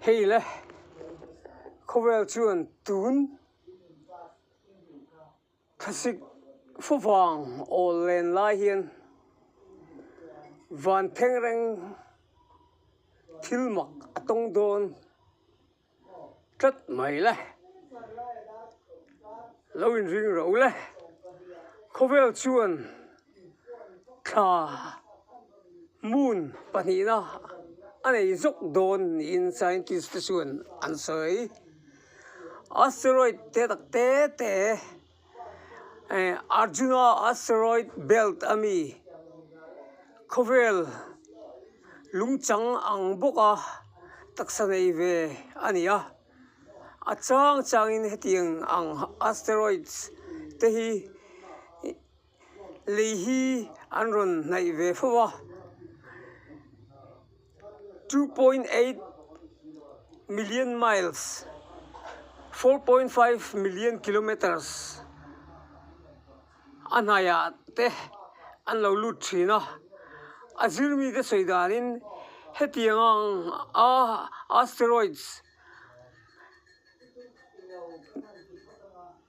Hei le, khawvel chuan tun thlasik fuvang awl len lai hian vanthengreng thil mak a tawng dawn tlat mai la lo in ring ro la khawvel chuan thla moon pahnih na a nei zawk dawn niin scientist te chuan an sawi asteroid te tak te te-- Arjuna Asteroid Belt a mi khawvel lungchang ang bawka taksa nei ve a ni a, a chang changin hetiang ang asteroids te hi-- lei hi an rawn hnaih ve fo a two point eight million miles four point five million kilometres a hnaiah te an lo lut thin a a zir mite sawi danin hetiang ang a asteroids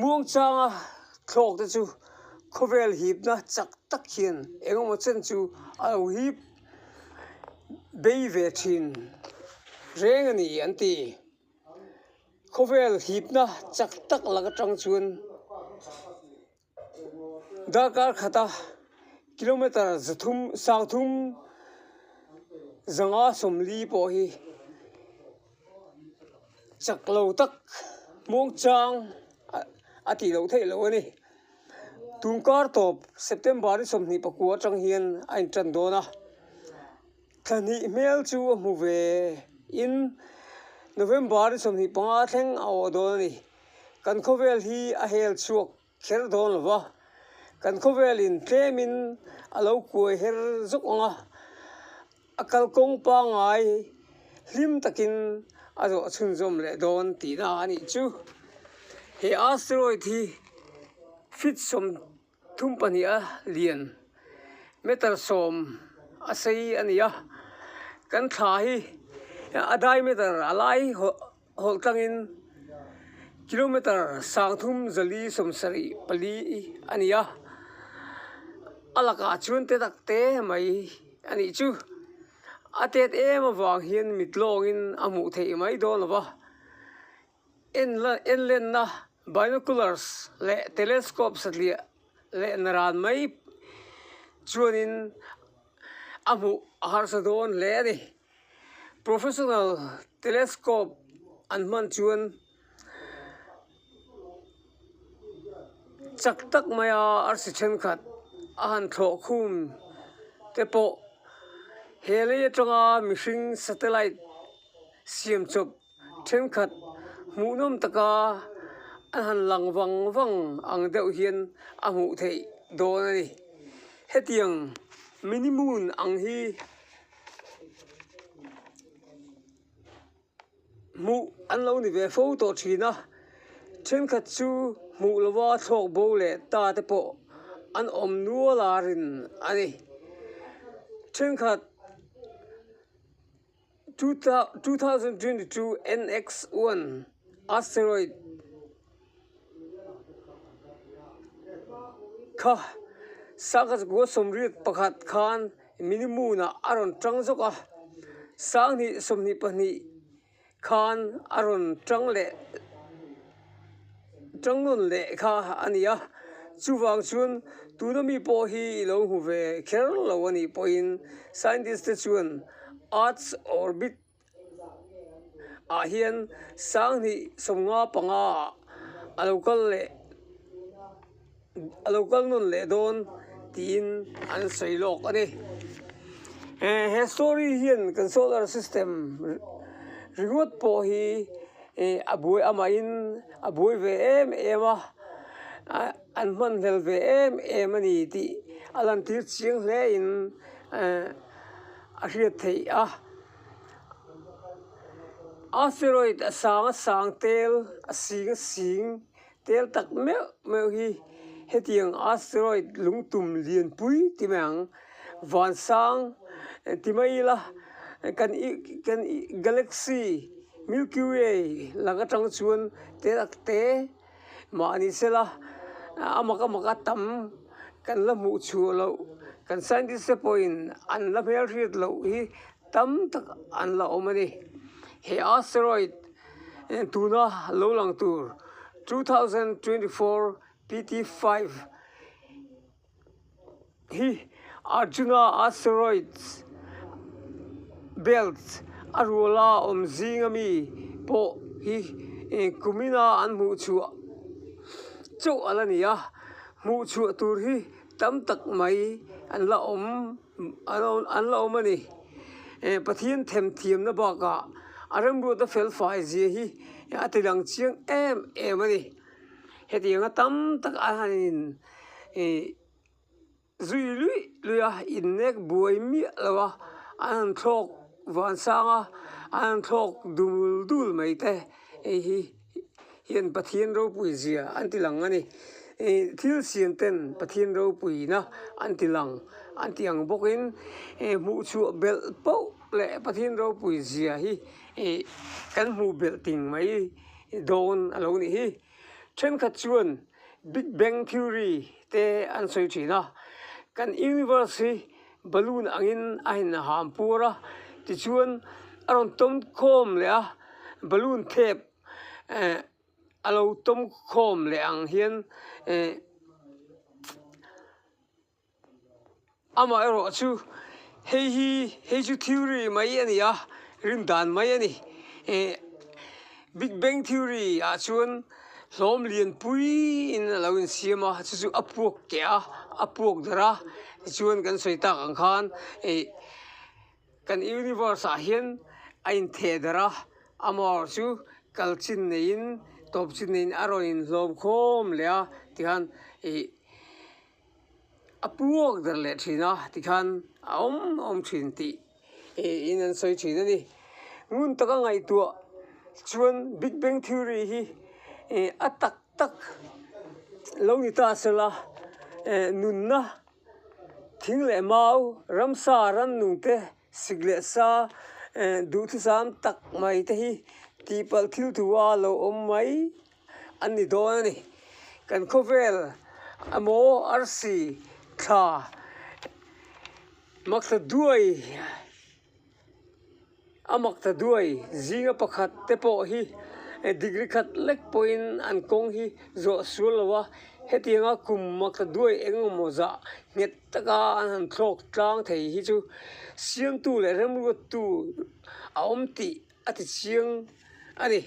Muangchanga thlawk te chu khawvel hipna chak tak hian engemaw chen chu a lo hip bei ve thin reng a ni an ti. Khawvel hipna chak tak lak atang chuan. Darkar khata kilometre zathum sauthum zanga sawmli pawh hi chak lo tak muang chang a tih loh theih loh a ni tumkar tawp September-i sawmhnih pakua a tang hian a inṭan dawn a. Thlanih hmel chu a hmu ve in November i sawmhnih panga thleng a awh dawn a ni. Kan khawvel hi a hel chhuak kher dawn lo va, kan khawvel in tlem in a lo kuai her zawk ang a, a kalkawng pangai hlim tak in a zawh chhunzawm leh dawn tihna a nih chu. He asteroid hi fitsawm-- Thum pahniha lian meter sawm a sei a ni a, kan thla hi a diameter a lai hawlh tlangin kilometer sang thum zali sawmsarih pali a ni a, a lakah chuan te tak te mai a nih chu, a tet em avang hian mitlawngin a hmuh theih mai dawn lo va. Enlenna, Binoculars, leh telescope satliah lehna ran mai chuanin a hmuh a harsa dawn hle a ni. Professional telescope an hman chuan chak tak maia arsi thenkhat a han thlawh khum te pawh he lei atanga mihring satellite siam chawp-- Thenkhat hmuhnawm taka an han lang vang vang ang deuh hian a hmuh theih dawn a ni. Hetiang mini moon ang hi hmuh an lo ni ve fo tawh thin a, thenkhat chu hmuh lova thlawk bo leh ta te pawh an awm nual a rin a ni. Thenkhat. 2022 NX1 asteroid kha sangha kua sawmriat pakhat khan mini moonah a rawn tang zawk a, sanghnih sawmhnih pahnih khan a rawn tang leh. Tang nawn leh kha a ni a, chuvang chuan tuna mi pawh hi i lo hmu ve kher lo a nih pawhin scientist te chuan Earth's orbit ah hian Sang hnih sawmnga panga a lo kal leh. A lo kal nawn leh dawn tiin an sawi lawk a ni. Eh, he story hian kan solar system ringawt pawh hi eh a buai amahin a buai ve em em a, ah an hman hmel ve em em a ni tih a lan tir chiang hle in eh a hriat theih a. Asteroid a sanga sang tel, a singa sing Tel tak meuh meuh hi hetiang asteroid lungtum lianpui ti mai ang, vansang ti mai ila kan kan galaxy milky way lang atang chuan te tak te mahni sela a mak a mak a tam kan la hmuh chhuah loh kan scientist te pawhin an la hmel hriat loh hi-- tam tak an la awm a ni he asteroid tuna lo lang tur two thousand twenty four PT five hi arjuna asteroids belt a ruala awm zing ami pawh hi kumina an hmuh chhuah chauh alh a ni a hmuh chhuah tur hi tam tak mai an la awm. an la awm a ni. Pathian thèm thiamna bakah a remruata felfai zia hi a ti dang chiang em em a ni. Heti anga tam tak a han in ih zui luih luih a, innek buai miah lo a, an han thlâwk vân sâng a, an han thlâwk dul dul mai te eihi. hian Pathian ropui zia an ti lang a ni. Thil siam ten Pathian ropuina an ti lang an ti ang bawk in hmuhchhuah belh poh leh Pathian ropui zia hi kan hmu belh ting mai dawn a lo nih hi. Thenkhat chuan Big Bang Theory te an sawi thin a, kan Universe hi. balloon angin a in ham pur a tichuan a rawn tum khawm leh a balloon thlep ehh a lo tum khawm leh ang hian ehh amah erawh chu hei hi hei chu thil ri mai a ni a rindan mai a ni ehh-- Big Bang Theory ah chuan hlawm lian pui in a lo insiam a, chu chu a puak keh a, a puak darh a, tichuan kan sawi tak ang khan ih kan universe ah hian a in theh darh a, amaw chu kal chin neiin tawp chin neiin a rawn inhlawm khawm leh a tikhan ih. a puak der leh thin a tikhan a awm a awm thin tih in an sawi thin a ni ngun taka ngaihtuah chuan big bang theory hi a tak tak lo ni ta se la nunna thing leh mau ramsa rannung te. Sik leh sa eh duhthusam tak mai te hi tihpalh thil thu a lo awm mai an ni dawn a ni. Kan khawvel emaw arsi thla maksa duai a maksa duai zinga pakhat te pawh hi degree khat lek pawhin an kawng hi zawh sual lo va hetianga kum maksa duai eng emaw zah nghet-- taka an han thlawk tlang thei hi chu siamtu leh remruattu a awm tih a ti chiang a ni.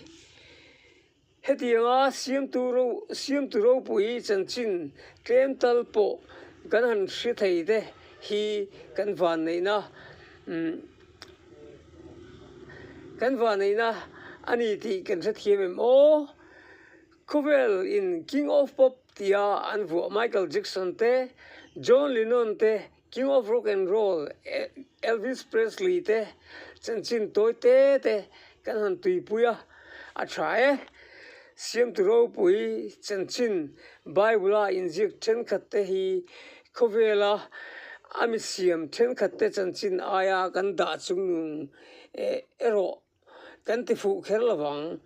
Hetianga siamtu ro siamtu ropui chanchin tlem tal pawh kan han hre thei te hi kan vanneihna umm kan vanneihna a ni tih kan hrethiam em aw? Khawvel in king of pop tia an vuah Michael Jackson te, John Lennon te, King of Rock and Roll Elvis Presley te chanchin tawi te te kan han tuipui a, a tha e. Siamtu ropui chanchin Bible-a inziak thenkhat te hi khawvela a misiam thenkhat te chanchin aia kan dah chung nung erawh kan ti fuh kher lo vang.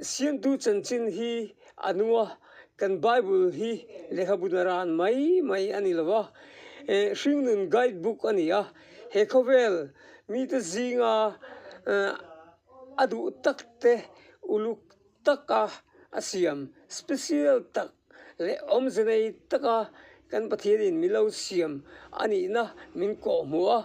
Siamtu chanchin hi a nu a, kan Bible hi lehkhabuna ran mai mai a ni lo va, eh Hringnun Guide Book a ni a, he khawvel mite zinga a duh tak te uluk-- taka a siam, special tak leh awmze nei taka kan Pathian in min lo siam a nihna min kawh hmu a,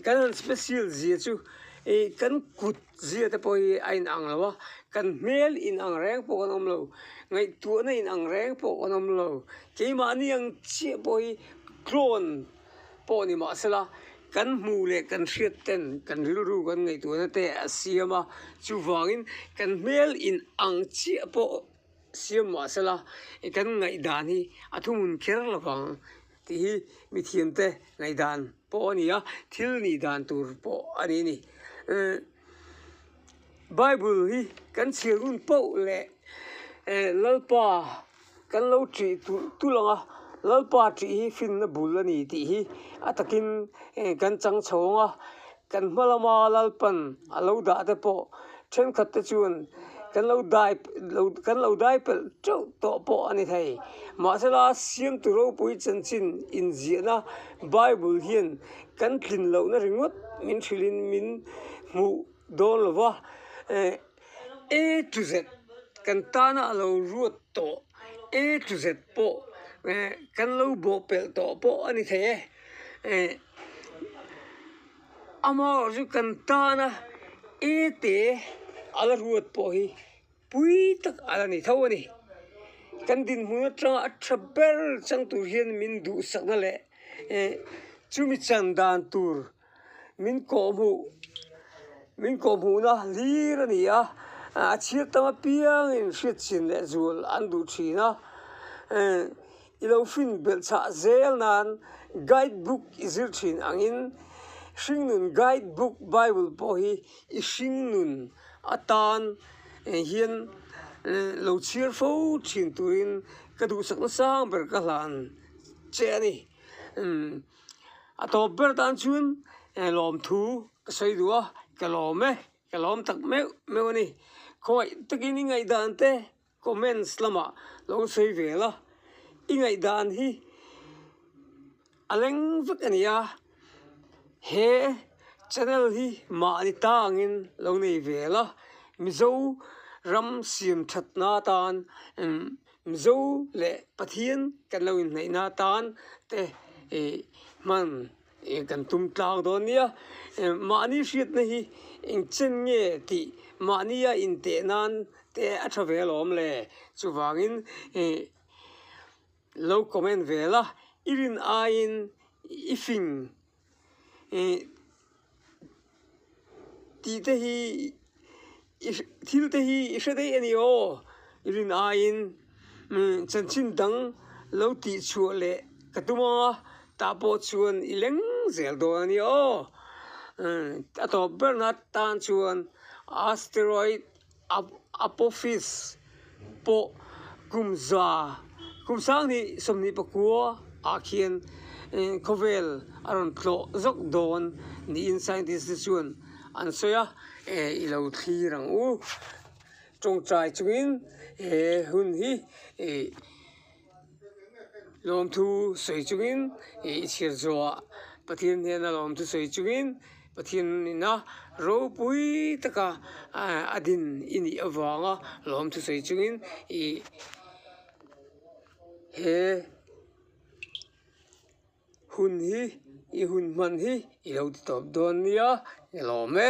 kan han special zia chu ih kan kut zia te pawh hi a inang lo a, kan hmel inang reng pawh kan awm lo, ngaihtuahna inang reng pawh kan awm lo, keimahni ang chiah pawh hi tlawn pawh ni mah sela kan hmuh leh kan hriat ten kan rilru kan ngaihtuahna te a siam a chuvangin kan hmel in ang chiah pawh siam mah sela kan ngaihdan hi a thumun kher lo ang tih hi mithiam te ngaihdan pawh a ni a thil nih dan tur pawh a nih a ni bible hi kan chhir hun paoh leh lalpa Kan lo ṭih tulh ang a, Lalpa ṭih hi finna bul a ni tih hi a takin kan chang chho ang a, kan hma lama Lalpan a lo dah te pawh ṭhenkhat te chuan kan lo dai kan lo dai pelh ṭeuh tawh pawh a ni thei. Mahse la Siamtu Ropui chanchin inziahna Bible hian kan tlin lohna ringawt min thrilhin min hmuh dawn lo va, A to Z kan tana a lo ruat tawh A to Z pawh kan lo bawhpelh tawh pawh a ni thei e amaherawh chu kan tana A te a la ruat pawh hi pui tak a la ni tho a ni kan dinhmun atanga a tha ber chang tur hian min duhsakna leh chumi chan dan tur. Min kawhhmuh min kawhhmuhna hlir a ni a, a chhir tam apiangin hriat chin leh zual an duh thin a, i lo hrin belh chah zel nan guide book i zir thin ang in hringnun guide book bible pawh hi i hringnun atan hian lo chhir fo thin turin ka duhsak na sang ber ka hlan che a ni. a tawp ber tan chuan eh lawmthu ka sawi duh a ka lawm e ka lawm tak meuh meuh a ni khawiah takin i ngaihdan te comments lamah lo sawi ve la i ngaihdan hi a leng vek a ni a he channel hi mahni ta angin lo nei ve la mizo ram siam that na atan em-- Mizo leh Pathian kan lo inhnaih na tan te ih hman ih kan tum tlang dawn nia mahni hriat na hi engchen nge tih mahni a inteh nan te a tha ve alawm le chuvangin ih lo comment vel a i rin aiin i fing ih tih te hi i hre thil te hi i hre daih a ni aw i rin aiin chanchin dang lo tih chhuah leh ka tum a tah pawh chuan i leng zel dawn a ni aw a tawp ber nat tan chuan asteroid Apophis pawh kumza kumsang ni sawmhnih pakua ah khian khawvel a rawn tlawh zawk dawn niin scientist te chuan an sawi a i lo thlir ang u tawngtai chungin he hun hi ih-- Lawmthu sawi chungin ih i chhir zawha, Pathian hian a lawmthu sawi chungin Pathian ina ropui taka a din i nih avanga lawmthu sawi chungin ih he hun hi i hun hman hi i lo ti tawp dawn nia ni lawm e.